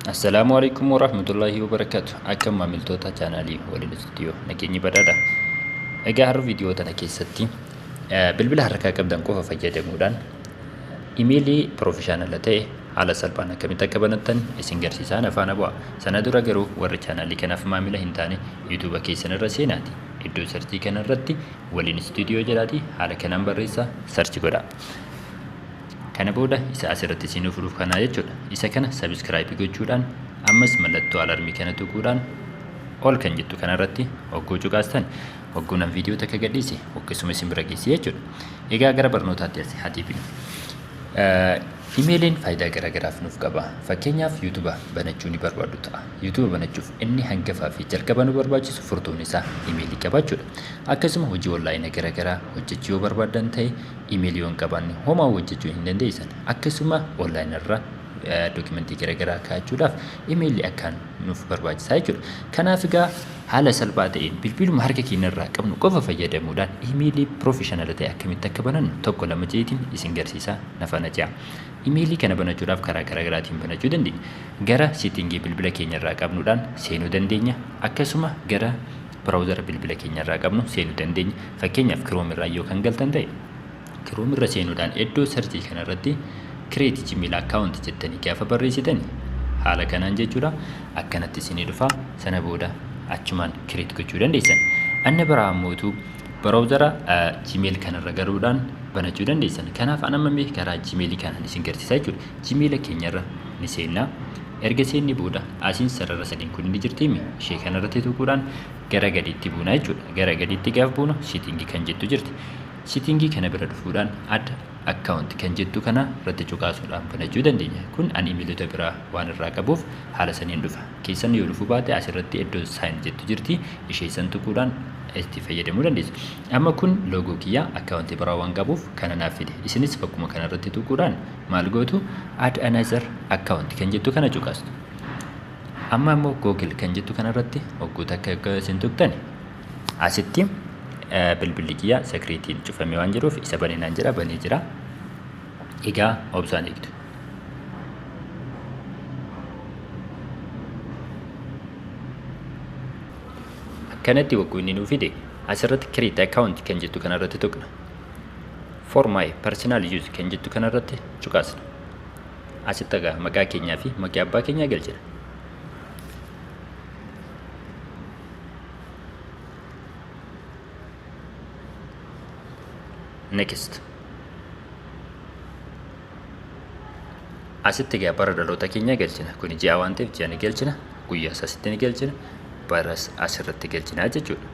Assalaamu alaikum warahmatullahi wabarakatuh. Akkam maamiltoota chaanaalii waliin istuudiyoo nageenyi badhaadha. Egaa har'a viidiyoo tana keessatti eh, bilbila harkaa qabdan qofa fayyadamuudhaan imeelii piroofeshaanala ta'e haala salphaan akkamitti akka banattan isin garsiisaan afaan bu'a. Sana dura garuu warri chaanaalii kanaaf maamila hin taane yuutuuba keessan irra seenaati. Iddoo sarchii kana irratti waliin studio jedhaati haala kanaan barreessa search godha kana booda isa asirratti isin furuuf kanaa jechuudha isa kana subscribe gochuudhaan ammas mallattoo alarmii kana tuquudhaan ol kan jettu kanarratti hogguu cuqaastan hogguu nan viidiyoo takka gadhiise hoggessuma isin bira geessi jechuudha egaa gara barnootaatti asi hatiifin imeeliin faayidaa garaagaraaf nuuf qaba fakkeenyaaf yuutuba banachuu ni barbaadu ta'a YouTube banachuuf inni hangafaa fi jalqabaa nu barbaachisu furtuun isaa imeelii qabaachuudha. Akkasuma hojii onlaayina garagaraa hojjechuu yoo barbaaddan ta'e imeelii yoo hin qabaanne homaa hojjechuu hin dandeessan. Akkasuma onlaayina irra dookimentii garagaraa kaa'achuudhaaf imeelii akkaan nuuf barbaachisaa jechuudha. Kanaaf egaa haala salphaa ta'een bilbiluma harka keenya irraa qabnu qofa fayyadamuudhaan imeelii piroofeshinala ta'e akkamitti akka banannu tokko lama jeetiin isin garsiisaa na faana ce'a. Imeelii kana banachuudhaaf karaa garaagaraatiin banachuu dandeenya. Gara seetingii bilbila keenyarraa qabnuudhaan seenuu dandeenya. Akkasuma gara biraawuzara bilbila keenyarraa qabnu seenuu dandeenya. Fakkeenyaaf Chrome irraa yoo kan galtan ta'e Chrome irra seenuudhaan iddoo sarjii kanarratti create gmail account jettanii gaafa barreessitan haala kanaan jechuudha akkanatti isinii dhufa sana booda achumaan create gochuu dandeessan. Anna biraa ammootu Browsera Gmail kanarra galuudhaan banachuu dandeessan. Kanaaf an amma mee karaa Gmail kanaan isin garsiisaa jechuudha. Gmail keenyarra ni seenna. Erga seennee booda asiin sarara sadiin kun ni jirtiimi. Ishee kanarratti tuquudhaan gara gadiitti buuna jechuudha. Gara gadiitti gaaf buunu sitingii kan jettu jirti. Sitingii kana bira dhufuudhaan adda akkaawunti kan jettu kana irratti cuqaasuudhaan banachuu dandeenya. Kun an imiilota biraa waan irraa qabuuf haala saniin dhufa. keessan yoo dhufuu baate asirratti iddoo sign jettu jirti ishee san tuquudhaan itti fayyadamuu dandeessu. Amma kun loogoo kiyya akkaawuntii biraa waan qabuuf kana naaf fide. Isinis bakkuma kana irratti tuquudhaan maal gootu add another account kan jettu kana cuqastu. Amma ammoo Google kan jettu kana irratti hogguu takka akka isin tuqtani asitti bilbilli kiyya sakiriitiin cufamee waan jiruuf isa banee naan jedha banee jira. Egaa obsaan eegdu. akkanatti wagguu inni nuu fide asirratti create account kan jettu kanarratti tuqna for my personal use kan jettu kanarratti cuqaasna asitti egaa maqaa keenyaa fi maqaa abbaa keenyaa galchina next asitti egaa bara dhaloota keenya galchina kuni ji'a waan ta'eef ji'a ni galchina guyyaas asitti ni galchina baras asirratti galchina jechuudha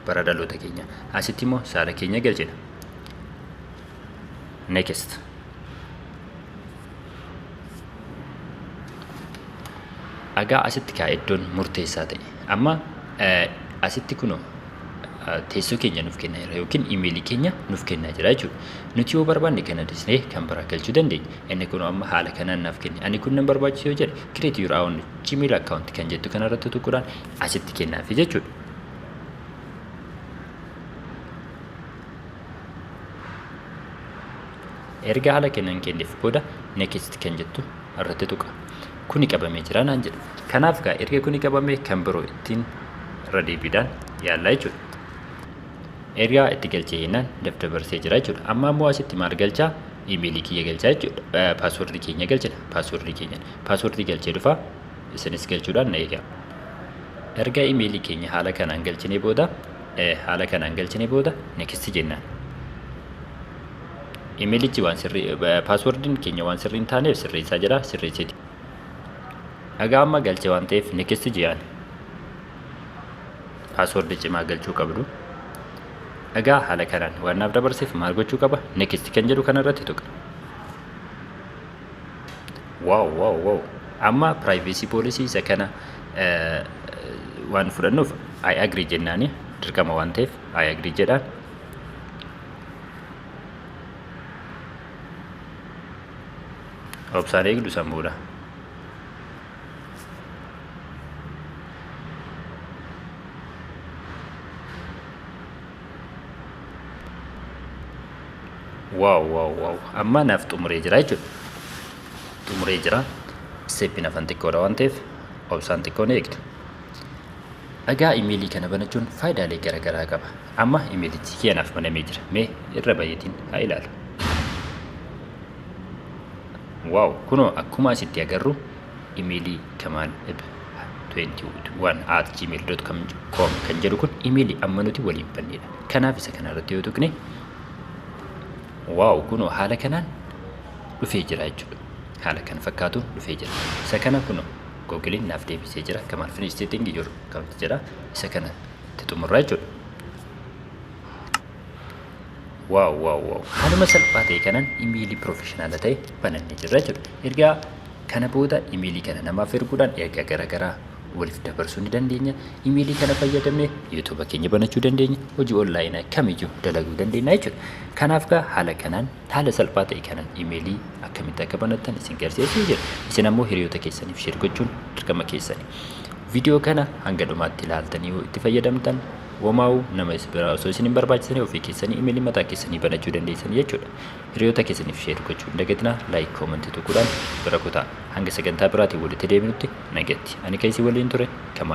bara dhaloota keenya asitti immoo saala keenya galchina next egaa asitti kaa iddoon murteessaa ta'e amma asitti kunoo teessoo keenya nuuf kennaa jira yookiin imeelii keenya nuuf kennaa jira jechuudha. Nuti yoo barbaanne kana dhiisnee kan biraa galchuu dandeenya. Inni kun amma haala kanaan naaf kenne. Ani kun nan barbaachisa yoo jedhe create your own gmail account kan jettu kanarratti tuquudhaan asitti kennaafi jechuudha. Erga haala kanaan kenneef booda next kan jettu irratti tuqa. kuni qabamee jira naan jedhu. Kanaaf gaa erga kuni qabamee kan biroo ittiin irra deebiidhaan yaallaa jechuudha. Ergaa itti galchee jennaan dabdabarsee jira jechuudha. Amma ammoo asitti maal galchaa? Imeelii kiyya galchaa jechuudha. Paaswordii keenya galchina. Paaswordii keenya. Paaswordii galchee dhufa. Isinis galchuudhaan na eegaa. Erga imeelii keenya haala kanaan galchinee booda haala kanaan galchinee booda next jennaan. Imeelichi waan sirrii paaswordiin keenya waan sirrii hin taaneef sirreessaa jira sirreessiti. Dhagaa amma galche waan ta'eef next ji'aan paaswordii cimaa galchuu qabdu. Dhagaa haala kanaan waan naaf dabarseef maal gochuu qaba next kan jedhu kanarratti tuqa. Waaw waaw waaw amma privacy policy isa kana waan fudhannuuf I agree jennaani dirqama waan ta'eef I agree jedhaan. obsaan eegdu san booda waaw waaw waaw amma naaf xumuree jira jechuudha xumuree jira isteeppiin afan xiqqoodha waan ta'eef obsaan xiqqoon eegdu dhagaa imeelii kana banachuun faayidaalee garaagaraa qaba Amma imeelichi kee anaaf banamee jira. Mee irra bayeetiin haa ilaalu. Waaw kunoo akkuma asitti agarru imeelii kamaan eb 21 at gmail.com kan jedhu kun imeelii amma nuti waliin bannedha. Kanaaf isa kana irratti yoo tuqne waaw kunoo haala kanaan dhufee jira jechuudha. Haala kan fakkaatuun dhufee jira. Isa kana kunoo googiliin naaf deebisee jira. Kamaal finis setting jiru kan jedha. Isa kana itti xumurra jechuudha. Waaw waaw waaw haaluma salphaa ta'e kanan imeelii piroofeshinaala ta'e banannee jirra jechuudha. Ergaa kana booda imeelii kana namaaf erguudhaan ergaa garaagaraa waliif dabarsuu ni dandeenya. Imeelii kana fayyadamne yuutuuba keenya banachuu dandeenya. Hojii onlaayinaa kamiyyuu dalaguu dandeenya jechuudha. Kanaaf gaa haala kanaan Haala salphaa ta'e kanaan imeelii akkamitti akka banattan isin garsiisee jira. Isin ammoo hiriyoota keessaniif sheer gochuun dirqama keessani. Viidiyoo kana hanga dhumaatti ilaaltanii yoo itti fayyadamtan womaawu nama isin biraa osoo isin hin barbaachisanii ofii keessanii imeelii mataa keessanii banachuu dandeessan jechuudha. Hiriyoota keessaniif sheer gochuu hin dagatinaa laayik koomantii tuquudhaan bira kutaa. Hanga sagantaa biraatiin walitti deebinutti nagatti. Ani kan isin waliin ture Kamaal.